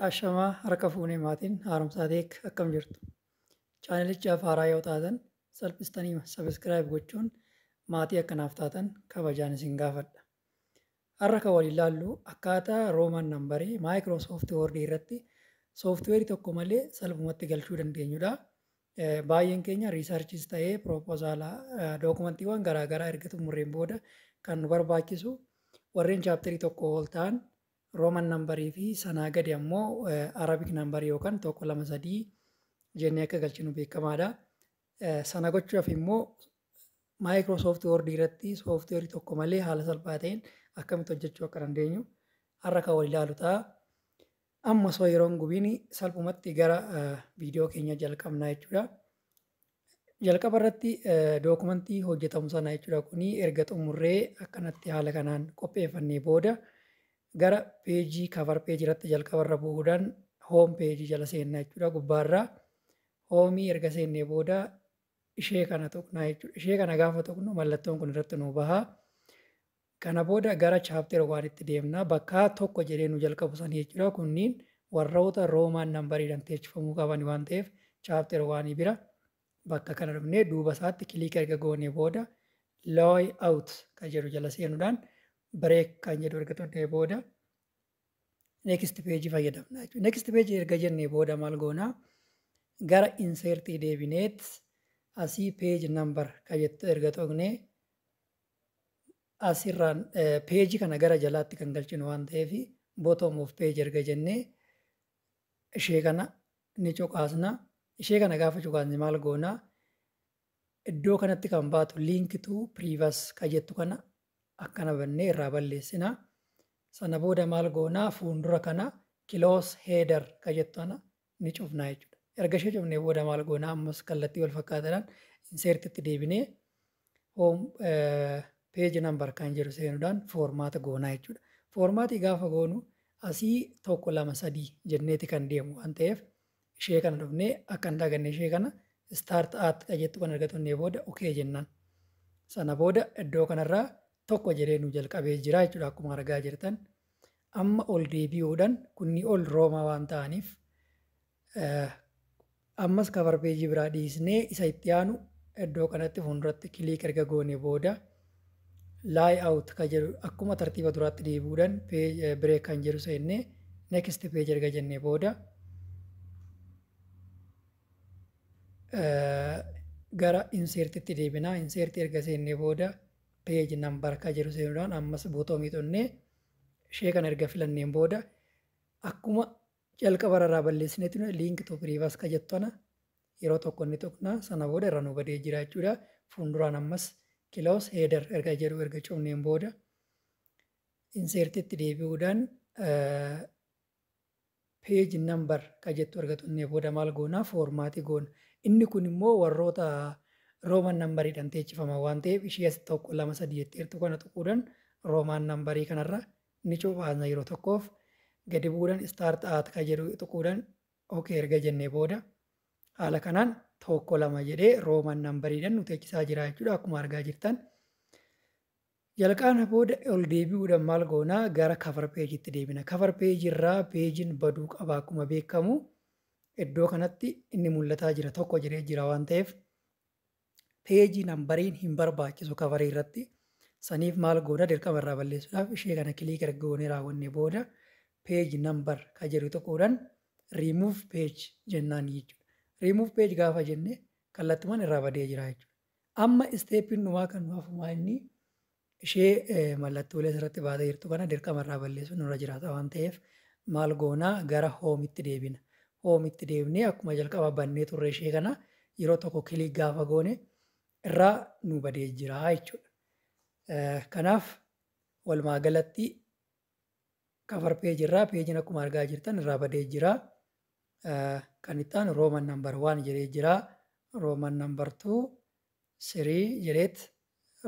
Ashamaa harka fuunee maatiin haaromsaa teek akkam jirtu? Chaanelichaaf haaraa yoo taatan salphistanii sabiskiraayib gochuun maatii akka naaf taatan kabajaan isin gaafadha. Har'a kan waliin ilaallu akkaataa Roomaan nambarii Microsoft Word irratti sooftiweerii tokko malee salphumatti galchuu dandeenyudha. Baay'een keenya riisarchiis ta'ee piroopozaala dookumantiiwwan garaa garaa erga xumurreen booda kan nu barbaachisu warreen chaapterii tokko ol ta'an rooman nambarii fi sanaa gadi ammoo arabik nambarii yookaan tokko lama sadii jennee akka galchinu beekamaadha. Sana gochuuf immoo Microsoft Word irratti sooftiweerii tokko malee haala salphaa ta'een akkamitti hojjechuu akka dandeenyu har'a kan wal ilaalu ta'a. Amma osoo yeroo hin gubiin salphumatti gara viidiyoo keenya jalqabnaa jechuudha. Jalqaba irratti dookumantii hojjetamu sana jechuudha kuni erga xumurree akkanatti haala kanaan qopheeffannee booda gara peejii kavar peejii irratti jalqaba irra bu'uudhaan hoom peejii jala seenna jechuudha gubbaarraa hoomii erga seennee booda ishee kana tuqnaa jechuudha. Ishee kana gaafa tuqnu mallattoon kun irratti nu baha. Kana booda gara chapter one tti deemna. Bakka tokko jedhee nu jalqabu sanii jechuudha. Kunniin warroota Roman number dhan teechifamuu qaban waan ta'eef chapter one bira bakka kana dhufnee duuba isaatti click erga goonee booda loy out kan jedhu jala seenuudhaan break kan jedhu erga tunnee booda next page fayyadamna jechuudha. Next page erga jennee booda maal goonaa? gara insertii deebineet asii page number kan jettu erga tuqnee as irraan page kana gara jalaatti kan galchinu waan ta'eef bottom of page erga jennee ishee kana ni cuqaasna. Ishee kana gaafa cuqaasne maal goona? Iddoo kanatti kan baatu link to previous ka jettu kana akkana bannee irraa balleessina. Sana booda maal goona? Fuundura kana close header ka jettu kana ni cufnaa jechuudha. Erga ishee cufnee booda maal goonaa ammas kallattii wal fakkaataadhaan insert itti deebinee home page number kan jedhu seenuudhaan formaata goonaa jechuudha. Formaati gaafa goonu asii tokko lama sadii jenneeti kan deemu waan ta'eef ishee kana dhufnee akka hin daganne ishee kana start at kan jettu kan erga tunnee booda okay jennaan. Sana booda iddoo kanarraa tokko jedhee nu jalqabee jira jechuudha akkuma argaa jirtan. Amma ol deebi'uudhan kunni ol Roomaa waan ta'aniif ammas cover page biraa dhiisnee isa itti aanu iddoo kanatti fuulduratti click erga goone booda lie out ka jedhu akkuma tartiiba duraatti deebi'uudhan break kan jedhu seennee next page erga jennee booda gara insertitti deebina insert erga seennee booda page number kan jedhu seenuudhaan ammas buutoomii xunnee ishee kan erga filanneen booda akkuma jalqaba irraa balleessinee ture link to previous ka jettu ana yeroo tokko inni tuqna sana booda irra nu badee jira jechuudha fuulduraan ammas kiloos heeder erga jedhu erga cufneen booda inseertitti deebi'uudhaan page number ka jettu erga tunnee booda maal goona? Foormaati goona. Inni kun immoo warroota Roman number dhan teechifaman waan ta'eef ishii as 1, 2, 3 jettee jirtu kana tuquudhan Roman number kanarra ni cophaasna yeroo tokkoof. Gadi bu'uudhan start at ka jedhu tuquudhan ok erga jennee booda haala kanaan 1, 2 jedhee Roman number dhan nu teechisaa jira jechuudha akkuma argaa jirtan. Jalqaabna booda ol deebi'uudhan maal goona gara cover page tti deebina. Cover page irraa pejin baduu qaba akkuma beekkamu iddoo kanatti inni mul'ataa jira tokko jedhee jira waan ta'eef page nambariin hin barbaachisu cover irratti saniif maal goona dirqama irraa balleessuudhaaf ishee kana click erga goonee raawwanne booda page number ka jedhu tuquudhan remove page jennaan jechuudha. Remove page gaafa jenne kallattuman irraa badee jira jechuudha. Amma isteeppiin dhumaa kan nu hafu maa inni ishee mallattoolee asirratti baatee jirtu kana dirqama irraa balleessuun nurra jiraata waan ta'eef maal goona gara hoomitti deebina. Hoomitti deebinee akkuma jalqaba bannee turre ishee kana yeroo tokko kilii gaafa goone irraa nu badee jira jechuudha. Kanaaf walumaa galatti cover page irraa peejiin akkuma argaa jirtan irraa badee jira. Kan itti aanu Roman number 1 jedhee jira. Roman number 2 3 jedheet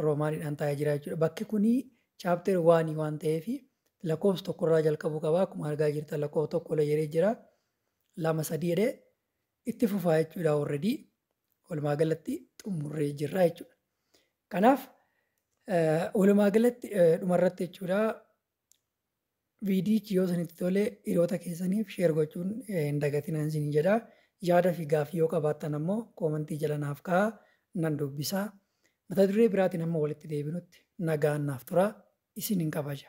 Romaaniidhaan taa'ee jira jechuudha. Bakki kuni chapter 1 waan ta'eef lakkoofsa tokko irraa jalqabuu qaba. Akkuma argaa jirtan lakkoofsa tokko illee jedhee jira. Lama sadii jedhee itti fufaa jechuudha already walumaa galatti xumurree jirra jechuudha. Kanaaf walumaa galatti dhumarratti jechuudha viidiyichi yoo isinitti tole hiriyoota keessaniif sheer gochuun hin dagatinaan isin jedha. Yaada fi gaaffii yoo qabaattan ammoo koomantii jala naaf kaa'aa nan dubbisa. Mata duree biraatiin amma walitti deebinutti nagaan naaf tura isin hin kabaja.